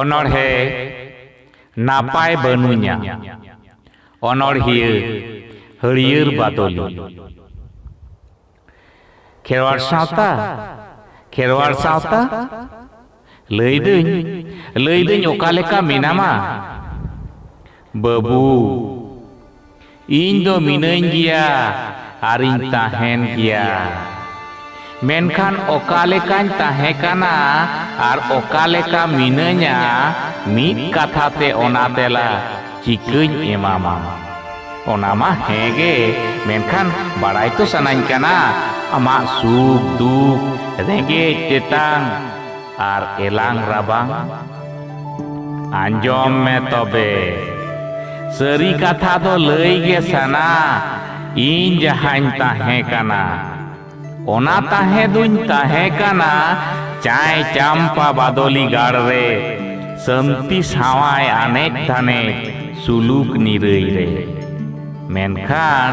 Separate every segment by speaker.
Speaker 1: ᱚᱱᱚᱬᱦᱮ ᱱᱟᱯᱟᱭ ᱵᱟᱹᱱᱩᱧᱟ ᱚᱱᱚᱬᱦᱤᱭᱟᱹ ᱦᱟᱹᱲᱭᱟᱹᱨ ᱵᱟᱫᱚᱞᱤ ᱠᱷᱮᱨᱣᱟᱲ ᱥᱟᱶᱛᱟ ᱠᱷᱮᱨᱣᱟᱲ ᱥᱟᱶᱛᱟ ᱞᱟᱹᱭᱫᱟᱹᱧ ᱞᱟᱹᱭᱫᱟᱹᱧ ᱚᱠᱟ ᱞᱮᱠᱟ ᱢᱮᱱᱟᱢᱟ ᱵᱟᱹᱵᱩ, ᱤᱧ ᱫᱚ ᱢᱤᱱᱟᱹᱧ ᱜᱮᱭᱟ ᱟᱨᱤᱧ ᱛᱟᱦᱮᱸᱱ ᱜᱮᱭᱟ᱾ ᱢᱮᱱᱠᱷᱟᱱ ᱚᱠᱟ ᱞᱮᱠᱟᱧ ᱛᱟᱦᱮᱸ ᱠᱟᱱᱟ ᱟᱨ ᱚᱠᱟ ᱞᱮᱠᱟ ᱢᱤᱱᱟᱹᱧᱟ ᱢᱤᱫ ᱠᱟᱛᱷᱟ ᱛᱮ ᱚᱱᱟ ᱛᱮᱞᱟ ᱪᱤᱠᱟᱹᱧ ᱮᱢᱟᱢᱟ? ᱚᱱᱟ ᱢᱟ ᱦᱮᱸ ᱜᱮ ᱢᱮᱱᱠᱷᱟᱱ ᱵᱟᱲᱟᱭ ᱛᱚ ᱥᱟᱱᱟᱧ ᱠᱟᱱᱟ ᱟᱢᱟᱜ ᱥᱩᱠ, ᱫᱩᱠ, ᱨᱮᱸᱜᱮᱡ, ᱛᱮᱛᱟᱝ᱾ ᱟᱨ ᱮᱞᱟᱝ ᱨᱟᱵᱟᱝ ᱟᱸᱡᱚᱢ ᱢᱮ ᱛᱚᱵᱮ ᱥᱟᱹᱨᱤ ᱠᱟᱛᱷᱟ ᱫᱚ ᱞᱟᱹᱭ ᱜᱮ ᱥᱟᱱᱟ ᱤᱧ ᱡᱟᱦᱟᱸᱧ ᱛᱟᱦᱮᱸ ᱠᱟᱱᱟ ᱚᱱᱟ ᱛᱟᱦᱮᱸ ᱫᱩᱧ ᱛᱟᱦᱮᱸ ᱠᱟᱱᱟ ᱪᱟᱭ ᱪᱟᱢᱯᱟ ᱵᱟᱫᱚᱞᱤ ᱜᱟᱲ ᱨᱮ ᱥᱟᱹᱱᱛᱤ ᱥᱟᱶᱟᱭ ᱟᱱᱮᱡ ᱫᱷᱟᱱᱮᱡ ᱥᱩᱞᱩᱠ ᱱᱤᱨᱟᱹᱭ ᱨᱮ ᱢᱮᱱᱠᱷᱟᱱ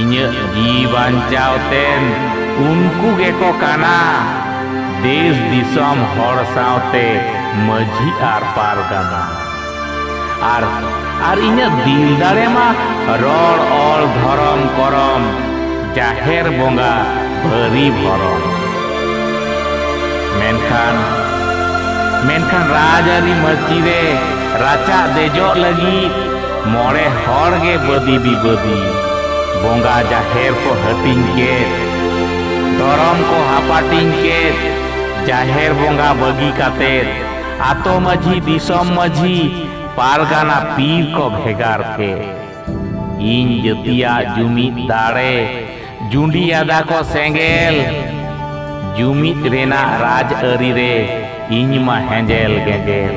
Speaker 1: ᱤᱧᱟᱹᱜ ᱡᱤ ᱵᱟᱧᱪᱟᱣ ᱛᱮᱱ ᱩᱱᱠᱩ ᱜᱮᱠᱚ ᱠᱟᱱᱟ ᱫᱮᱥ ᱫᱤᱥᱚᱢ ᱦᱚᱲ ᱥᱟᱶᱛᱮ ᱢᱟᱹᱡᱷᱤ ᱟᱨ ᱯᱟᱨᱜᱟᱱᱟ ᱟᱨ ᱟᱨ ᱤᱧᱟᱹᱜ ᱫᱤᱞ ᱫᱟᱲᱮ ᱢᱟ ᱨᱚᱲ ᱚᱞ ᱫᱷᱚᱨᱚᱢ ᱠᱚᱨᱚᱢ ᱡᱟᱦᱮᱨ ᱵᱚᱸᱜᱟ ᱵᱷᱟᱹᱨᱤ ᱵᱷᱚᱨᱚᱢ ᱢᱮᱱᱠᱷᱟᱱ ᱢᱮᱱᱠᱷᱟᱱ ᱨᱟᱡᱽᱟᱹᱨᱤ ᱢᱟᱹᱪᱤ ᱨᱮ ᱨᱟᱪᱟ ᱫᱮᱡᱚᱜ ᱞᱟᱹᱜᱤᱫ ᱢᱚᱬᱮ ᱦᱚᱲ ᱜᱮ ᱵᱟᱹᱫᱤ ᱵᱤᱵᱟᱹᱫᱤ ᱵᱚᱸᱜᱟ ᱡᱟᱦᱮᱨ ᱠᱚ ᱦᱟᱹᱴᱤᱧ ᱠᱮᱫ ᱫᱷᱚᱨᱚᱢ ᱠᱚ ᱦᱟᱯᱟᱴᱤᱧ ᱠᱮᱫ ᱡᱟᱦᱮᱨ ᱵᱚᱸᱜᱟ ᱵᱟᱹᱜᱤ ᱠᱟᱛᱮᱫ ᱟᱛᱳ ᱢᱟᱹᱡᱷᱤ ᱫᱤᱥᱚᱢ ᱢᱟᱹᱡᱷᱤ ᱯᱟᱨᱜᱟᱱᱟ ᱯᱤᱨ ᱠᱚ ᱵᱷᱮᱜᱟᱨ ᱠᱮᱫ ᱤᱧ ᱡᱟᱹᱛᱤᱭᱟᱜ ᱡᱩᱢᱤᱫ ᱫᱟᱲᱮ ᱡᱩᱸᱰᱤ ᱟᱫᱟ ᱠᱚ ᱥᱮᱸᱜᱮᱞ ᱡᱩᱢᱤᱫ ᱨᱮᱱᱟᱜ ᱨᱟᱡᱽ ᱟᱹᱨᱤ ᱨᱮ ᱤᱧ ᱢᱟ ᱦᱮᱸᱡᱮᱞ ᱜᱮᱸᱡᱮᱞ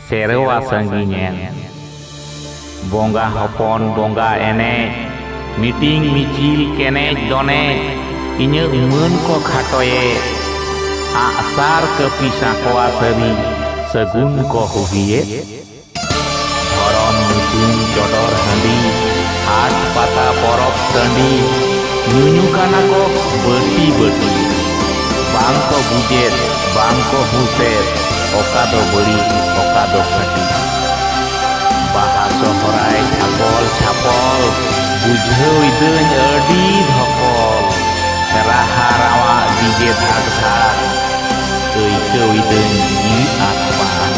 Speaker 1: ᱥᱮᱨᱣᱟ ᱥᱟᱺᱜᱤᱧᱮᱱ ᱵᱚᱸᱜᱟ ᱦᱚᱯᱚᱱ ᱵᱚᱸᱜᱟ ᱮᱱᱮᱡ ᱢᱤᱴᱤᱝ ᱢᱤᱪᱤᱞ ᱠᱮᱱᱮᱡ ᱫᱚᱱᱮᱡ ᱤᱧᱟᱹᱜ ᱢᱟᱹᱱ ᱠᱚ ᱠᱷᱟᱴᱚᱭᱮ ᱟᱜᱥᱟᱨ ᱠᱟᱹᱯᱤ ᱥᱟᱸᱠᱚᱣᱟ ᱥᱟᱹᱨᱤ ᱥᱟᱹᱜᱩᱱ ᱠᱚ ᱦᱩᱵᱤᱭᱮᱫ ᱫᱷᱚᱨᱚᱢ ᱧᱩᱛᱩᱢ ᱪᱚᱰᱚᱨ ᱦᱟᱺᱰᱤ ᱦᱟᱴ ᱯᱟᱛᱟ ᱯᱚᱨᱚᱵᱽ ᱴᱟᱺᱰᱤ ᱧᱩᱧᱩ ᱠᱟᱱᱟ ᱠᱚ ᱵᱟᱹᱴᱤ ᱵᱟᱹᱴᱤ ᱵᱟᱝ ᱠᱚ ᱵᱩᱡᱮᱫ ᱵᱟᱝ ᱠᱚ ᱦᱩᱥᱮᱫ ᱚᱠᱟ ᱫᱚ ᱵᱟᱹᱲᱤᱡ ᱚᱠᱟ ᱫᱚ ᱠᱷᱟᱹᱴᱤ ᱵᱟᱦᱟ ᱥᱚᱦᱨᱟᱭ ᱪᱷᱟᱯᱚᱞ ᱪᱷᱟᱯᱚᱞ ᱵᱩᱡᱷᱟᱹᱣ ᱤᱫᱟᱹᱧ ᱟᱹᱰᱤ ᱫᱷᱚᱠᱚᱞ ᱨᱟᱦᱟ ᱨᱟᱣᱟ ᱰᱤᱡᱮ ᱫᱷᱟᱠ ᱫᱷᱟᱠ ᱟᱹᱭᱠᱟᱹᱣ ᱤᱫᱟᱹᱧ ᱡᱤᱣᱤ ᱟᱠ ᱵᱟᱠ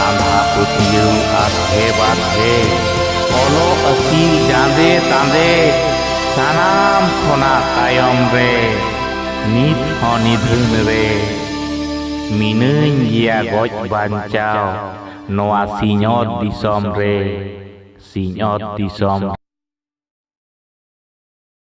Speaker 1: ᱟᱸᱫᱷᱟ ᱯᱟᱹᱛᱭᱟᱹᱣ ᱟᱫᱷᱮ ᱵᱟᱫᱷᱮ ᱚᱞᱚᱜ ᱟᱹᱠᱤᱞ ᱡᱟᱸᱫᱮ ᱛᱟᱸᱫᱮ ᱥᱟᱱᱟᱢ ᱠᱷᱚᱱᱟᱜ ᱛᱟᱭᱚᱢ ᱨᱮ ᱱᱤᱛ ᱦᱚᱸ ᱱᱤᱫᱷᱟᱹᱱ ᱨᱮ ᱢᱤᱱᱟᱹᱧ ᱜᱮᱭᱟ ᱜᱚᱡ ᱵᱟᱧᱪᱟᱣ ᱱᱚᱣᱟ ᱥᱤᱧᱚᱛ ᱫᱤᱥᱚᱢ ᱨᱮ ᱥᱤᱧᱚᱛ ᱫᱤᱥᱚᱢ